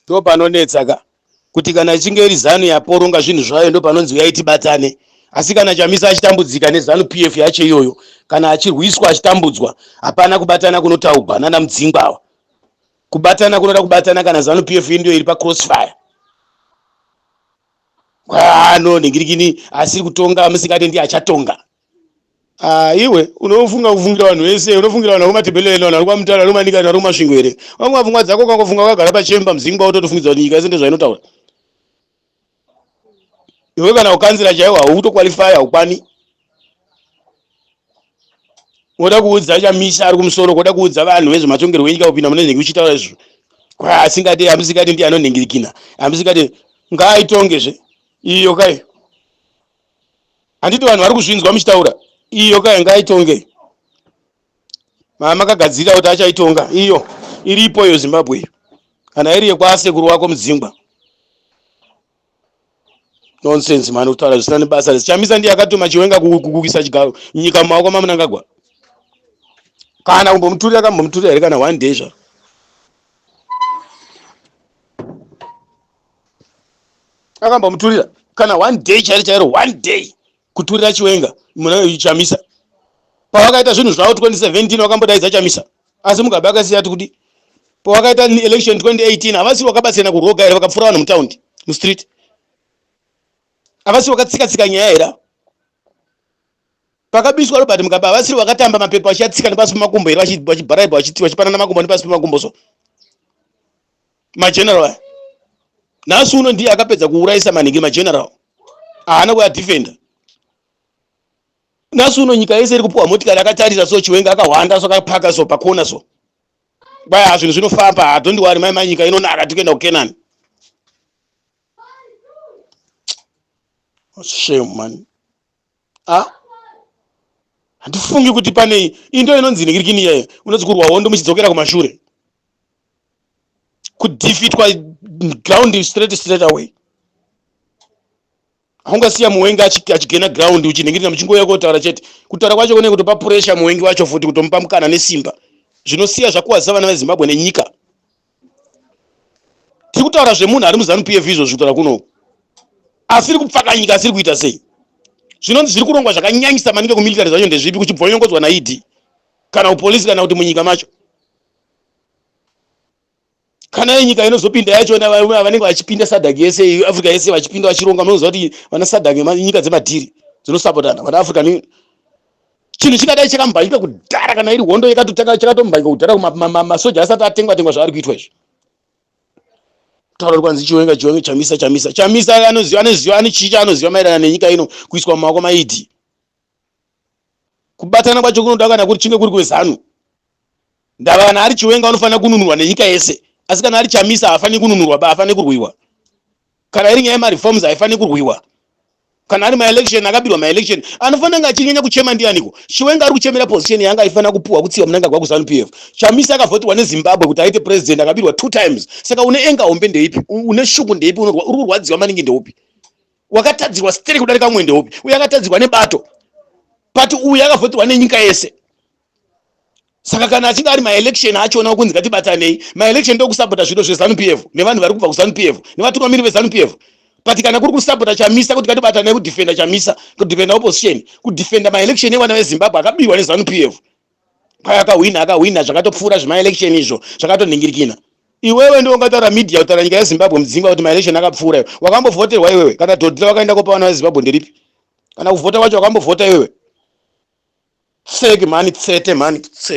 Ndo panonetsa ka kuti kana ichinge iri zanu yaporonga zvinhu zvayo ndo panonzi uyai tibatane asi kana chamisa achitambudzika nezanu pf yacho iyoyo kana achirwiswa achitambudzwa hapana kubatana kunotaugwa nana mudzingwa awa kubatana kunoda kubatana kana zanu pf indiyo iri pacrossfire kwaano ningirikini asiri kutonga musingatendi achatonga Ah, iwe unofunga kufungira vanhu vese unofungira vanhu vakumatebeleni vanhu vari kwamutara vari kumanika vanhu vari kumasvingo here wanguva pfungwa dzako ukangofunga wakagara pachemba muzimba wototofungidza kuti nyika yese ndozvainotaura iwe kana ukanzira chaiwo haukutokwalifai haukwani woda kuudza chamisa ari kumusoro koda kuudza vanhu vezvematongerwo enyika kupinda mune zvinenge uchitaura izvo kwa asingade amusingade ndiye anonhingirikina amusingade ngaaitongezve iyo kai handiti vanhu vari kuzvinzwa muchitaura iyo ka ngaitonge makagadzirira kuti achaitonga iyo iripo iyo zimbabwe iyo kana iri yekwasekuru wako mudzingwa nonsense mani kutaura zvisina nebasa rese chamisa ndiye akatuma chiwenga kuisa chigaro nyika mumaoko mamunangagwa kana kumbomuturira kambomuturira here kana one day zvaro akambomuturira kana one day chairo chairo one day kuturira chiwenga muna chamisa pawakaita zvinhu zvavo 2017 wakambodaidza chamisa asi mugabe akasiya ati kudi pawakaita election 2018 havasi wakabatsirana kuroga here vakapfura vanhu mutaundi mustreet havasi wakatsika tsika nyaya here pakabiswa robert mugabe havasiri vakatamba mapepa vachiatsika nepasi pemakumbo here vachibharaibha vachipanana makumbo nepasi pemakumbo so mageneral aya nhasi uno ndiye akapedza kuurayisa manhingi mageneral haana kuadefenda nhasi uno nyika yese iri kupiwa motikari akatarisa so chiwenga akahwanda so akapaka so pakona so kwaya zvinhu zvinofamba hadondiwari mai manyika inonaka tikuenda kukenani shame mani a ah? handifungi kuti pane into inonzi nigirikini iyayo unonzi kurwa hondo muchidzokera kumashure kudefitwa ground straight straight away haungasiya muwengi achigena ground uchinhingirira muchingouya kotaura chete kutaura kwacho kune kutopa puresha muwengi wacho futi kutomupa mukana nesimba zvinosiya zvakuwadza vana vezimbabwe nenyika tiri kutaura zvemunhu ari muzanu pf izvozvi kutaura kuno asiri kupfakanyika asiri kuita sei zvinonzi zviri kurongwa zvakanyanyisa maningi kumilitary zvacho ndezvipi kuchibvonyongodzwa naed kana kupolisi kana kuti munyika macho kana yenyika inozopinda yacho vanenge vachipinda sadak yese africa yese vachipinda vachironga munoziva kuti vana sadak nyika dzemadhiri dzinosapotana vana african chinhu chikadai chakambanyika kudhara kana iri hondo yakatotanga chakatombanyika kudhara masoja asati atengwa tengwa zvaari kuitwa izvi taura kwanzi chiwenga chiwenga chamisa chamisa chamisa anoziva anoziva ane chii chaanoziva maererano nenyika ino kuiswa mumaoko maidi kubatana kwacho kunoda kana kuri chinge kuri kwezanu Ndava kana ari chiwenga anofanira kununurwa nenyika yese asi kana ari chamisa haafaniri kununurwa ba afanire kurwiwa kana iri nyaya yemareforms haifanire kurwiwa kana ari maelection akabirwa maelection anofanira kunge achinyanya kuchema ndianiko chiwenga ari kuchemera position yanga aifanira kupuwa kutsiwa munangagwa kuzanu p f chamisa akavhotiwa nezimbabwe kuti aite president akabirwa two times saka une enga hombe ndeipi une shuku ndeipi uri kurwadziwa maningi ndeupi wakatadzirwa steri kudarika mumwe ndeupi uye akatadzirwa nebato pati uyu akavhotiwa nenyika yese saka kana achinge ari maelection achiona kunzi ngatibatanei maelection ndokusapota zviro zvezanu pf nevanhu vari kubva kuzanu pf nevatungamiri vezanu pf but kana kuri kusapota chamisa kuti ngatibatanei kudefenda chamisa kudefenda opposition kudefenda maelection evana vezimbabwe akabirwa nezanu pf paya akahwina akahwina zvakatopfuura zvemaelection izvo zvakatonhingirikina iwewe ndiwo ungataura media kutaura nyika yezimbabwe mudzingwa kuti maelection akapfuura iwe wakambovhoterwa iwewe kana dhodhira wakaenda kopa vana vezimbabwe nderipi kana kuvhota kwacho wakambovhota iwewe tseki mhani tsete mhani tseki